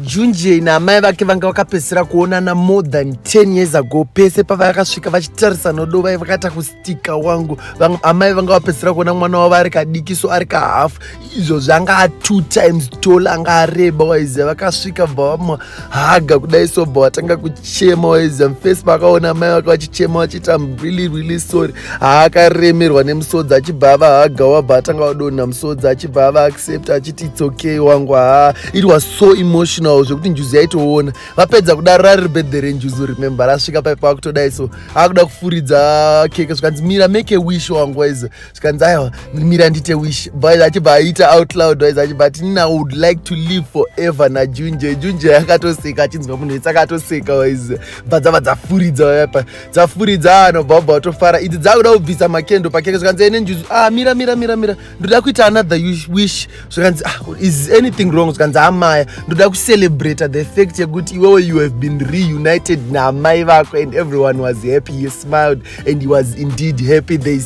Junjie naamai vake vanga vakapedzisira kuonana more than 10 years ago. Pese pavakasvika vachitarisa Nodo vaive vakaita kustika wangu. Vang, amai vanga vapedzisira kuona mwana wavo ari kadiki so ari kahafu. Izvo zvanga a two times tall anga areba waiziva vakasvika bva vamuhaga kudai so bva vatanga kuchema waiziva mufesi pakaona amai vake vachichema vachiti am really really sorry. Haakaremerwa nemusodzi achibva avahaga wabva atanga vadonha musodzi achibva ava accept achiti it's okay wangu haa it was so emotional zvekuti njuzu yaitoona vapedza kudaro rari birthday renjuzu remember rasvika pai pakutodai so akuda kufuridza keke zvikanzi mira make a wish wangu waize zvikanzi aiwa mira ndite wish but achibva aita out loud waize achibva ati nina would like to live forever najunje junje yakatoseka achinzwa munhu wese akatoseka waize bva dzava dzafuridza vayapa dzafuridza anobva ubva watofara idzi dzakuda kubvisa makendo pakeke zvikanzi ene njuzu ah mira mira mira mira ndoda kuita another wish zvikanzi ah, is anything wrong zvikanzi amaya ndoda kucelebrata the fact yekuti iwewe you have been reunited naamai vako and everyone was happy he smiled and he was indeed happy they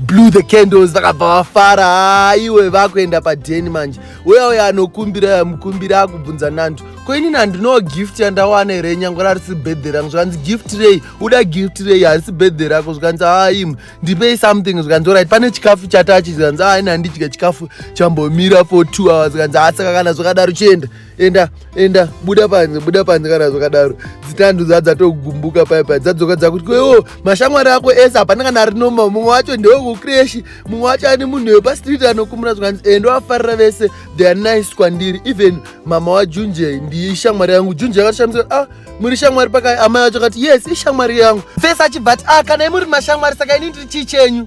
blew the candles vakabva vafara ah, iwe vakuenda padeni manje uya uya anokumbira yamukumbira akubvunza nandu ko inini handinowo gift yandawana here nyangwe rarisi birthday rangu zvikanzi gift rei uda gift rei harisi birthday rako zvikanzi haa ah, im ndipei something zvikanzi orit pane chikafu chatachi zvikanzi aini ah, handidya chikafu chambomira for two hours zvikanzi asaka ah, kana zvakadaro chienda enda enda buda panze buda panze kana zvakadaro dzitandu dzadzatogumbuka paipai dzadzoka dzakuti kwewo mashamwari ako ese hapana kana ari noma mumwe wacho ndewe kukreshi mumwe wacho ani munhu yepastreet anokumura zvikanzi ende eh, wafarira vese theare nice kwandiri even mama wajunje ndiyi shamwari yangu junje yakatoshamisa ah muri shamwari pakai amai vacho kati yes ishamwari yangu fesi achibva ati ah kana imuri mashamwari saka ini ndiri chii chenyu